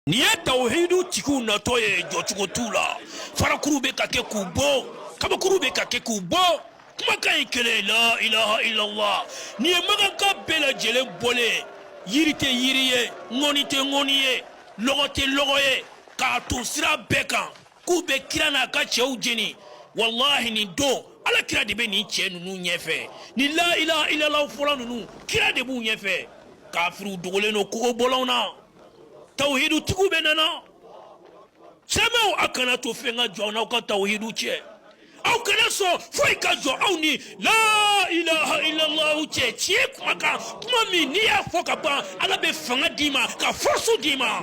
nin ye tawuhidu tigiw natɔ ye jɔcogo t'u la farakuru bɛ ka kɛ k'u bon kabakuru bɛ ka kɛ k'u bon kumakan ye kelen la ilaha illallah nin ye makankaw bɛɛ lajɛlen bɔlen ye yiri tɛ yiri ye ŋɔni tɛ ŋɔni ye lɔgɔ tɛ lɔgɔ ye k'a ton sira bɛɛ kan k'u bɛ kira n'a ka cɛw jeni walahi nin don ala kira de bɛ nin cɛ ninnu ɲɛfɛ nin la ilaha illallah fɔla ninnu kira de b'u ɲɛfɛ kafiriw dogolen don kogobɔlɔnw na tawuhidu tigiw bɛɛ nana silamɛw a kana to fɛn ka jɔ aw n'aw ka tawuhidu cɛ aw kana sɔn foyi ka jɔ aw ni la ilaha illallah cɛ tiɲɛ kuma kan kuma min n'i y'a fɔ ka ban ala bɛ fanga d'i ma ka force d'i ma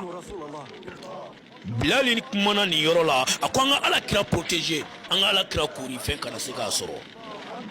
bilali kumana nin yɔrɔ la a ko an ka ala kira protéger an ka ala kira koori fɛn kana se k'a sɔrɔ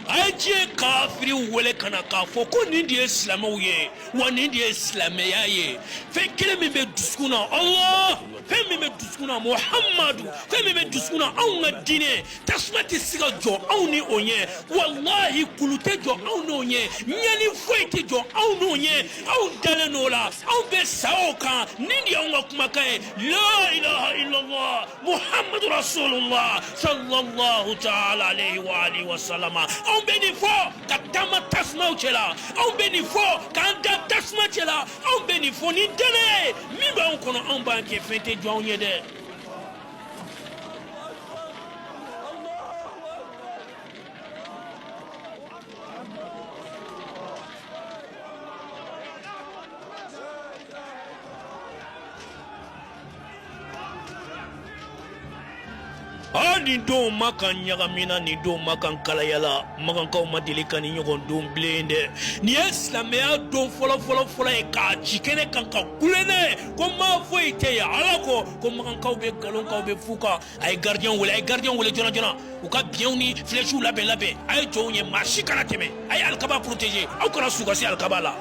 a ye diɲɛ kafiriw wele ka na k'a fɔ ko nin de ye silamɛw ye wa nin de ye silamɛya ye fɛn kelen min bɛ dusukun na allah fɛn min bɛ dusukun na muhamadu fɛn min bɛ dusukun na anw ka diinɛ tasuma tɛ se ka jɔ anw ni o ɲɛ walahi kulu tɛ jɔ anw n'o ɲɛ ɲɛni foyi tɛ jɔ anw n'o ɲɛ anw dalen n'o la anw bɛ sa o kan nin de y'anw ka kumakan ye la ilaha illallah muhammadu rasulullah sallallahu taala alayhi wa alihi wa salama anw bɛ nin fɔ ka taama tasumaw cɛla anw bɛ nin fɔ k'an da tasuma cɛla anw bɛ nin fɔ ni danaya ye min b'anw kɔnɔ anw b'an kɛ fɛn tɛ jɔ anw ɲɛ dɛ Aa nin don makan ɲagamina nin don makan kalayala makankaw ma deli ka nin ɲɔgɔn dɔn bilen dɛ nin ye silamɛya don fɔlɔfɔlɔfɔlɔ ye ka jigin kɛnɛ kan ka kule ko ma foyi tɛ ala kɔ ko makankaw bɛ nkalon kan aw bɛ fu kan a ye gardien wele a ye gardien wele joona joona u ka biɲɛw ni flèches labɛn labɛn a ye jɔ yen maa si kana tɛmɛ a ye alikaba protéger aw kana sɔn u ka se alikaba la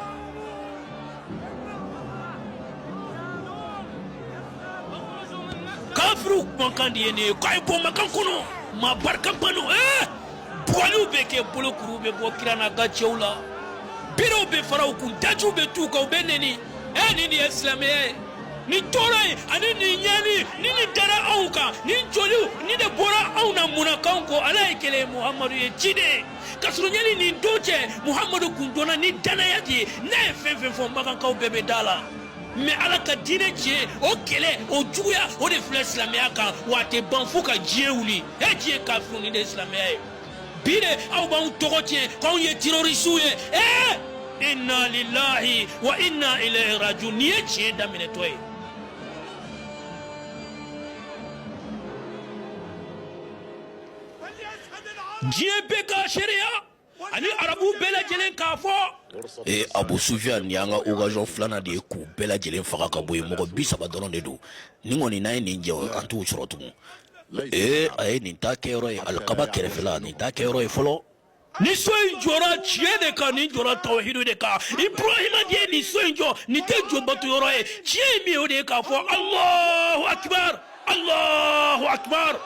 kafiriw kumakan de ye nin ye k'a ye bɔ makan kɔnɔ maa barikaba don ee bugɔliw bɛ kɛ bolokuruw bɛ bɔ kira n'a ka cɛw la berew bɛ fara u kun dajiw bɛ tu u kan u bɛ nɛni e nin de ye silamɛya ye nin tɔɔrɔ ye ani nin ɲɛni ni nin dara anw kan ni joliw ni de bɔra anw na munna k'anw ko ala ye kelen ye muhamadu ye ciden ye ka sɔrɔ yanni nin don cɛ muhamadu kun dɔnna ni danaya de ye n'a ye fɛn fɛn fɔ makankaw bɛɛ bɛ da a la mɛ ala ka diinɛ tiɲɛ o kɛlɛ o juguya o de filɛ silamɛya kan wa a tɛ ban fo ka diɲɛ wuli e diɲɛ kafiriw nin de ye silamɛya ye bi de aw b'anw tɔgɔ tiɲɛ k'anw ye terorisiw ye ee inna lillahi wa inna ilayhi rajiun nin ye tiɲɛ daminɛtɔ ye diɲɛ bɛɛ ka seereya ani arabu bɛɛ lajɛlen k'a fɔ ee eh, abu sufiyan nin y'an ka okazɔn filanan de ye k'u bɛɛ lajɛlen faga ka bɔ yen mɔgɔ bi saba dɔrɔn de don nin kɔni n'an ye nin jɛ an t'u sɔrɔ tugun Ee a ye nin ta kɛ yɔrɔ ye alikaba kɛrɛfɛ la nin ta kɛ yɔrɔ ye fɔlɔ nin so in jɔra tiɲɛ de kan nin jɔra tawhidu de kan ibrahima de ye nin so in jɔ nin tɛ jo bato yɔrɔ ye tiɲɛ min o de ye k'a fɔ alahu akubar alahu akubar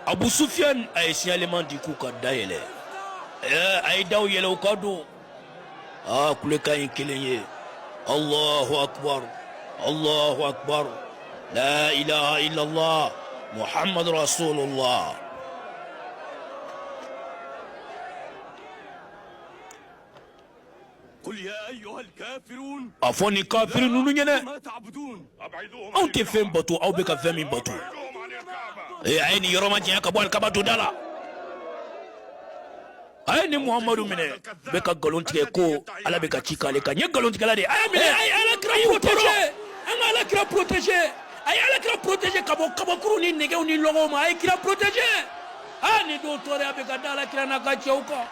abu sufiyan a ye siɲaliman di k'u ka da yɛlɛ a ye da yɛlɛ u ka don aa kulekan ye kelen ye alahu akubar alahu akubar la ilaha illallah muhammadu rasulullah a fɔ nin kafiri ninnu ɲɛna anw tɛ fɛn bato aw bɛ ka fɛn min bato ee a ye nin yɔrɔ majanya ka bɔ alikaba donda la a ye nin muhamadu minɛ bɛ ka nkalon tigɛ ko ala bɛ ka ci k'ale kan nin ye nkalontigɛla de ye a y'a minɛ a ye ala kira protege an ka ala kira protege a ye ala kira protege ka bɔ kabakuru ni nɛgɛw ni lɔgɔw ma a ye kira protege a nin don tɔɔrɔya bɛ ka da ala kira n'a ka cɛw kan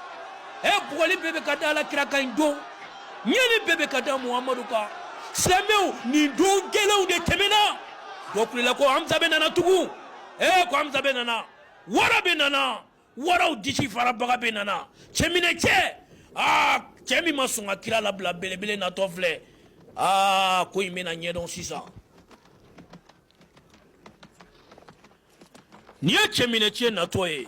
ɛ bugɔli bɛɛ bɛ ka da ala kira kan nin don ɲɛni bɛɛ bɛ ka da muhamadu kan silamɛw nin don gɛlɛnw de tɛmɛna dɔ kulela ko hamza bɛ nana tugun ɛ ko hamza bɛ nana wara bɛ nana Waraw disi farabaga bɛ nana cɛminɛ cɛ aa cɛ min ma sɔn ka kira labila belebele natɔ filɛ aa ko in bɛna ɲɛdɔn sisan nin ye cɛminɛ cɛ natɔ ye